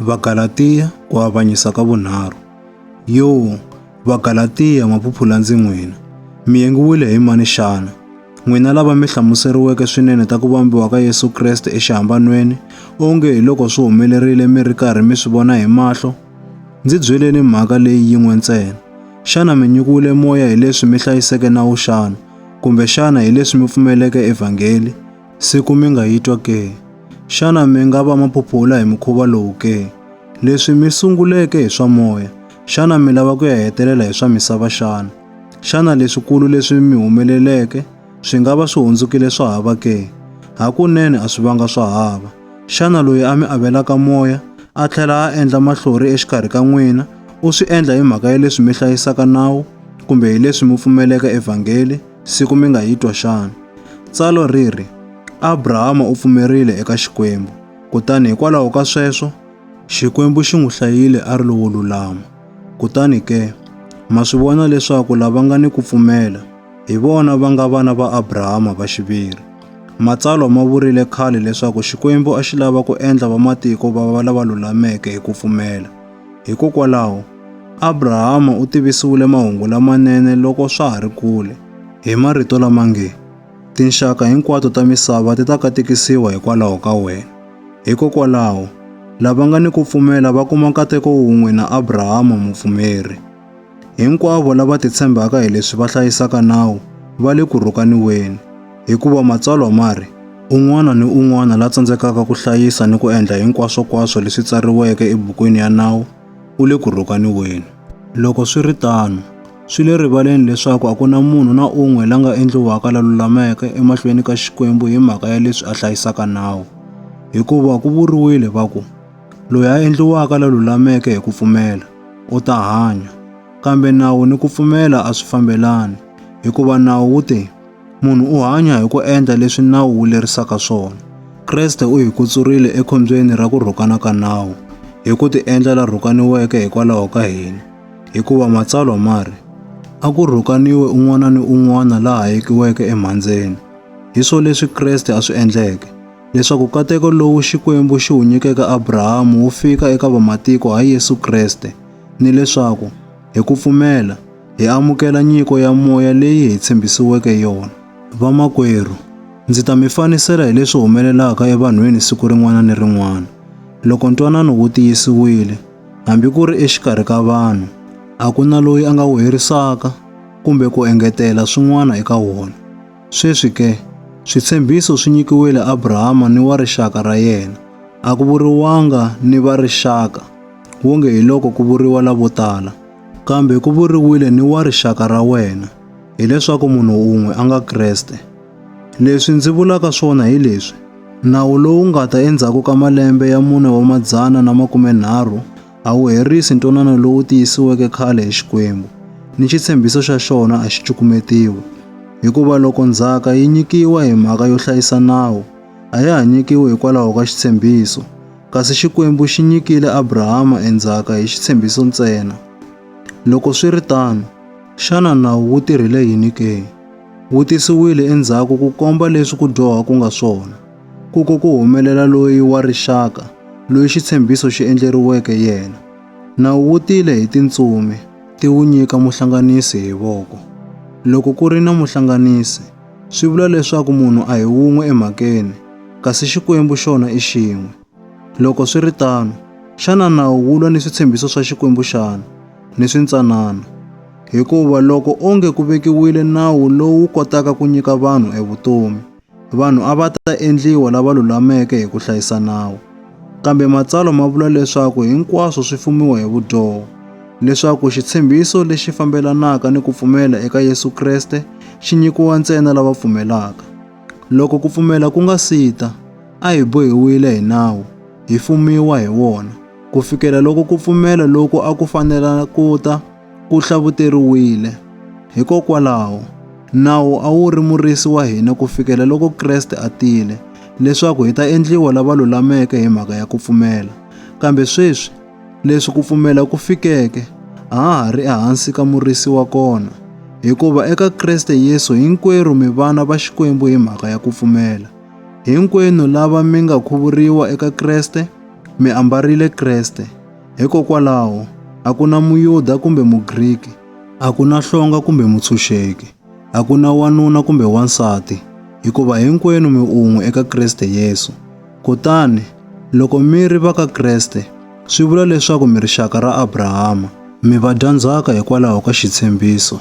Vagalatiya ku avanyisa ka vunharhu. Yo, Vagalatiya ma phuphula ndzi n'wina. Mi yengiwile hi mani xana? N'wina lava mi hlamuseriweke swinene ta ku vambiwa ka Yesu Kreste exihambanweni, onge hi loko swi humelerile mi ri karhi mi swi vona hi mahlo? Ndzi byeleni mhaka leyi yin'we ntsena. Xana mi nyikiwile moya hi leswi mi hlayiseke nawu xana? Kumbe xana hi leswi mi pfumeleke evhangeli? Siku mi nga yi twa ke? Xana mi nga va maphupula hi mukhuva lowu ke? Leswi mi sunguleke hi swa moya, xana mi lava ku ya hetelela hi swa misava xana? Xana leswikulu leswi mi humeleleke swi nga va swi hundzukile swa hava ke? Hakunene a swi vanga swa hava. Xana loyi a mi avelaka moya a tlhela a endla mahlori exikarhi ka n'wina u swi endla hi mhaka ya leswi mi hlayisaka nawu kumbe hi leswi mi pfumeleka evhangeli? siku mi nga yi twa xana? Tsalwa ri ri, Abrahama u pfumerile eka Xikwembu, kutani hikwalaho ka sweswo, Xikwembu xi n'wi hlayile a ri lowo lulama. Kutani ke, ma swi vona leswaku lava nga ni ku pfumela, hi vona va nga vana va Abrahama va xiviri. Matsalwa ma vurile khale leswaku Xikwembu a xi lava ku endla vamatiko va va lava lulameke hi ku pfumela. Hikokwalaho, Abrahama u tivisiwile mahungu lamanene loko swa ha ri kule, hi marito lama nge, Tinxaka hinkwato ta misava ti ta katekisiwa hikwalaho ka wena. Hikokwalaho, lava nga ni ku pfumela va kuma nkateko wun'we na Abrahama mupfumeri. Hinkwavo lava titshembaka hi leswi va hlayisaka nawu va le ku rhukaniweni, hikuva Matsalwa ma ri, Un'wana ni un'wana la tsandzekaka ku hlayisa ni ku endla hinkwaswonkwaswo leswi tsariweke ebukwini ya nawu u le ku rhukaniweni. Loko swi ri tano, swi le rivaleni leswaku a ku na munhu na un'we la nga endliwaka la lulameke emahlweni ka Xikwembu hi mhaka ya leswi a hlayisaka nawu, hikuva ku vuriwile va ku, Loyi a endliwaka la lulameke hi ku pfumela u ta hanya. Kambe nawu ni ku pfumela a swi fambelani, hikuva nawu wu te, munhu u hanya hi ku endla leswi nawu wu lerisaka swona. Kreste u hi kutsurile ekhombyeni ra ku rhukana ka nawu hi ku tiendla la rhukaniweke hikwalaho ka hina, hikuva matsalwa ma ri, A ku rhukaniwe un'wana ni un'wana la hayekiweke emhandzeni. Hi swo leswi Kreste a swi endleke. leswaku kateko lowu Xikwembu xi wu nyikeke Abrahamu wu fika eka vamatiko ha Yesu Kreste, ni leswaku, hi ku pfumela, hi amukela nyiko ya moya leyi hi tshembisiweke yona. Vamakwerhu, ndzi ta mi fanisela hi leswi humelelaka evanhwini siku rin'wana ni rin'wana. Loko ntwanano wu tiyisiwile, hambi ku ri exikarhi ka vanhu, a ku na loyi a nga wu herisaka kumbe ku engetela swin'wana eka wona. Sweswi ke, switshembiso swi nyikiwile Abrahama ni wa rixaka ra yena, a ku vuriwanga ni va rixaka, wonge hi loko ku vuriwa lavo tala, kambe ku vuriwile ni wa rixaka ra wena, hileswaku munhu un'we a nga Kreste. Leswi ndzi vulaka swona hi leswi, nawu lowu nga ta endzhaku ka malembe ya mune wa madzana na makumenharhu, a wu herisi ntwanano lowu tiyisiweke khale hi Xikwembu, ni xitshembiso xa xona a xi cukumetiwi. Hikuva loko ndzhaka yi nyikiwa hi mhaka yo hlayisa nawu, a ya ha nyikiwi hikwalaho ka xitshembiso, kasi Xikwembu xi nyikile Abrahama e ndzhaka hi xitshembiso ntsena. Loko swi ri tano, xana nawu wu tirhile yini ke? Wu tisiwile endzhaku ku komba leswi ku dyoha ku nga swona. Ku ko ku humelela loyi wa rixaka, loyi xitshembiso xi endleriweke yena. Nawu wu tile hi tintsumi, ti wu nyika muhlanganisi hi voko. Loko ku ri na muhlanganisi, swi vula leswaku munhu a hi wun'we emhakeni, kasi Xikwembu xona i xin'we. Loko swi ri tano, xana nawu wu lwa ni switshembiso swa Xikwembu xana? Ni swintsanana. Hikuva loko onge ku vekiwile nawu lowu kotaka ku nyika vanhu evutomi, Vanhu a va ta endliwa lava lulameke hi ku hlayisa nawu. Kambe matsalwa ma vula leswaku hinkwaswo swi fumiwa hi vudyoho, leswaku xitshembiso lexi fambelanaka ni ku pfumela eka Yesu Kreste xi nyikiwa ntsena lava pfumelaka. Loko ku pfumela ku nga si ta, a hi bohiwile hi nawu, hi fumiwa hi wona, ku fikela loko ku pfumela loku a ku fanela ku ta ku hlavuteriwile. Hikokwalaho, nawu a wu ri murisi wa hina ku fikela loko Kreste a tile, leswaku hi ta endliwa lava lulameke hi mhaka ya ku pfumela. Kambe sweswi, leswi ku pfumela ku fikeke, a ha ha ri ehansi ka murisi wa kona, hikuva eka Kreste Yesu hinkwerhu mi vana va Xikwembu hi mhaka ya ku pfumela. Hinkwenu lava mi nga khuvuriwa eka Kreste, mi ambarile Kreste. Hikokwalaho, a ku na Muyuda kumbe Mugriki, a ku na hlonga kumbe mutshunxeki, a ku na wanuna kumbe wansati, hikuva hinkwenu mi un'we eka Kriste Yesu. Kutani, loko mi ri va ka Kriste, swi vula leswaku mi rixaka ra Abrahama, mi vadyandzhaka hikwalaho ka xitshembiso.